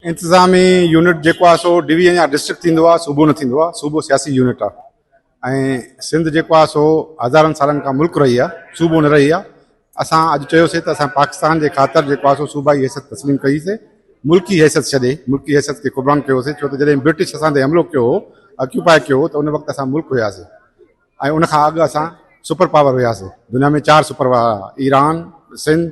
انتظامي يونٽ جيڪو آهي سو ڊويزن يا ڊسٽرڪٽ ٿيندو آهي صوبو نه ٿيندو آهي صوبو سياسي يونٽ آهي ۽ سنڌ جيڪو آهي سو هزارن سالن کان ملڪ رهي آهي صوبو نه رهي آهي اسان اڄ چيوسي ته اسان پاڪستان جي خاطر جيڪو آهي سو صوبائي حيثيت تسليم ڪئي سي ملڪي حيثيت ڇڏي ملڪي حيثيت کي قربان ڪيوسي ڇو ته جڏهن برٽش اسان تي حملو ڪيو هو اڪيوپائي ڪيو هو ته ان وقت اسان ملڪ هياسي ۽ ان کان اڳ اسان سپر پاور هياسي دنيا ۾ چار سپر پاور ايران سنڌ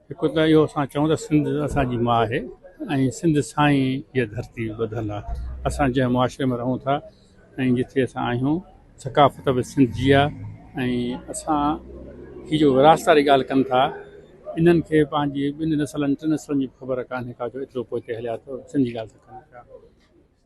هڪ ته اهو اسان چئون ته سنڌ اسان جي ماء آهي ۽ سنڌ سان ئي هيء ڌرتي ٻڌل آهي. اسان جنهن معاشري ۾ رهون ٿا ۽ جتي اسان آهيون، ثقافت به سنڌ جي آهي ۽ اسان هي جو وراثت واري ڳالهه ڪن ٿا، انهن کي پنهنجي ٻن نسلن ٽن نسلن جي به خبر ڪانهي ڪا جو ايترو پوئتي هليا ته سنڌ جي ڳالهه ٿا ڪن پيا.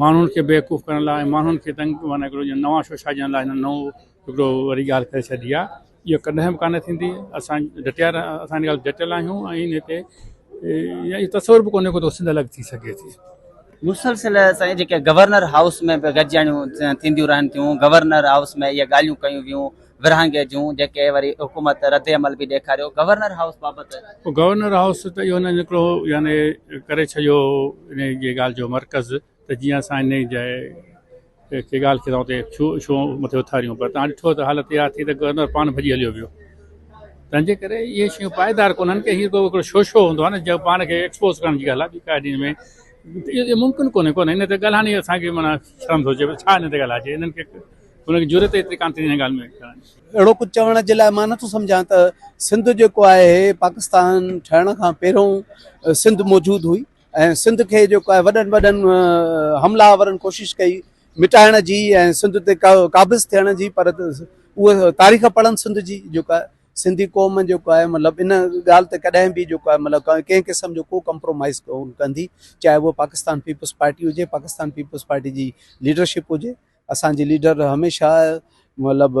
ماڻهن کي بيوقوف ڪرڻ لاء ۽ ماڻهن کي تنگ معنيٰ هڪڙو جيئن نوان شو ڇائجڻ لاء هنن نئون هڪڙو وري ڳالهه ڪري ڇڏي آهي اهو ڪڏهن به ڪانه ٿيندي اسان ڊٽيا رهيا اسان ان ڳالهه تي ڊٽيل آهيون ۽ ان تي يا اهو تصور به ڪونهي ڪو ته سنڌ الڳ ٿي سگهي ٿي. مسلسل سائين جيڪي گورنر هائوس ۾ به گڏجاڻيون ٿينديون رهن ٿيون گورنر هائوس ۾ اهي ڳالهيون ڪيون ويون ورهاڱي جون جيڪي وري حڪومت رد عمل به ڏيکاريو گورنر هائوس بابت. گورنر هائوس ته اهو نه نڪرو هو يعني ڪري ڇڏيو هو انهي جي ڳالهه جو مرڪز ته جيئن اسان انهي جي کي ڳالهه کي اتي ڇو مٿي اٿاريون پر توهان ڏٺو ته حالت اها ٿي ته گورنر پاڻ ڀڄي هليو ويو تنهن جي ڪري اهي شيون پائيدار ڪونهن ڪي هي ڪو شو شو هوندو آهي نه جنهن پاڻ کي ايڪسپوز ڪرڻ جي ڳالهه آهي ٻي ڪا ڏينهن ۾ اهو ممڪن ڪونهي ڪونهي ان تي ڳالهائڻ ئي اسان کي معنيٰ شرم ٿو اچي ڇا هن تي ڳالهائجي هنن کي ان کي جرئت ايتري ڪانه ٿيندي هن ڳالهه ۾ ڪرڻ جي. اهڙو ڪجهه چوڻ جي لاء مان نه ٿو سمجهان ته سنڌ جيڪو آهي پاڪستان ٺهڻ کان پهريون سنڌ موجود هئي ۽ سنڌ کي جيڪو آهي وڏن وڏن حمله آورن ڪوشش ڪئي مٽائڻ جي ۽ سنڌ تي قابض ٿيڻ جي پر اهو تاريخ پڙهن سنڌ جي جيڪو آهي سنڌي قوم جيڪو آهي مطلب ان ڳالهه تي ڪڏهن به جيڪو آهي مطلب ڪنهن قسم جو ڪو ڪمپرومائز ڪندي چاهي اهو پاڪستان پيپلز پارٽي هجي پاڪستان پيپلز پارٽي جي ليڊرشپ هجي اسان جي ليڊر هميشه مطلب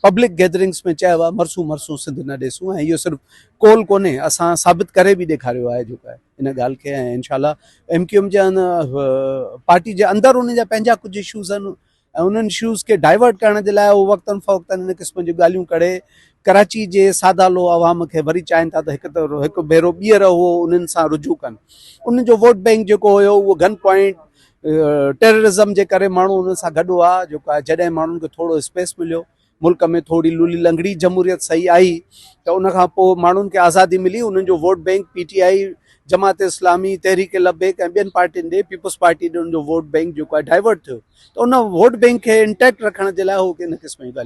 پبلڪ گيدرنگس ۾ چيو آهي مرسون مرسون سنڌ نه ڏيسون ۽ اهو صرف قول ڪونهي اسان ثابت ڪري به ڏيکاريو آهي جيڪو آهي ان ڳالهه کي ۽ انشاء الله ايم ڪيو ايم جي پارٽي جي اندر ان جا پنهنجا ڪجهه اشوز آهن ۽ انهن اشوز کي ڊائيورٽ ڪرڻ جي لاء هو وقتاً فوقتاً ان قسم جون ڳالهيون ڪڙي ڪراچي جي سادا لو عوام کي وري چاهين ٿا ته هڪ ته هڪ ڀيرو ٻيهر هو انهن سان رجوع ڪن ان جو ووٽ بئنڪ جيڪو هيو اهو گن پوائنٽ ٽيررزم جي ڪري ماڻهو انهن سان گڏ هئا جيڪو آهي جڏهن ماڻهن کي ٿورو اسپيس مليو ملڪ ۾ ٿوري لولي لنگڙي جمهوريت صحيح آئي ته ان کان پوء ماڻهن کي آزادي ملي انهن جو vote bank P T I Jamaat Islami Tehreek Labbaik ۽ ٻين پارٽين ڏي پيپلز پارٽي ڏي ان جو ووٽ بينڪ جيڪو آهي ڊائيورٽ ٿيو ته ان ووٽ بينڪ کي انٽيڪٽ رکڻ جي لاء هو ان قسم جون ڳالهيون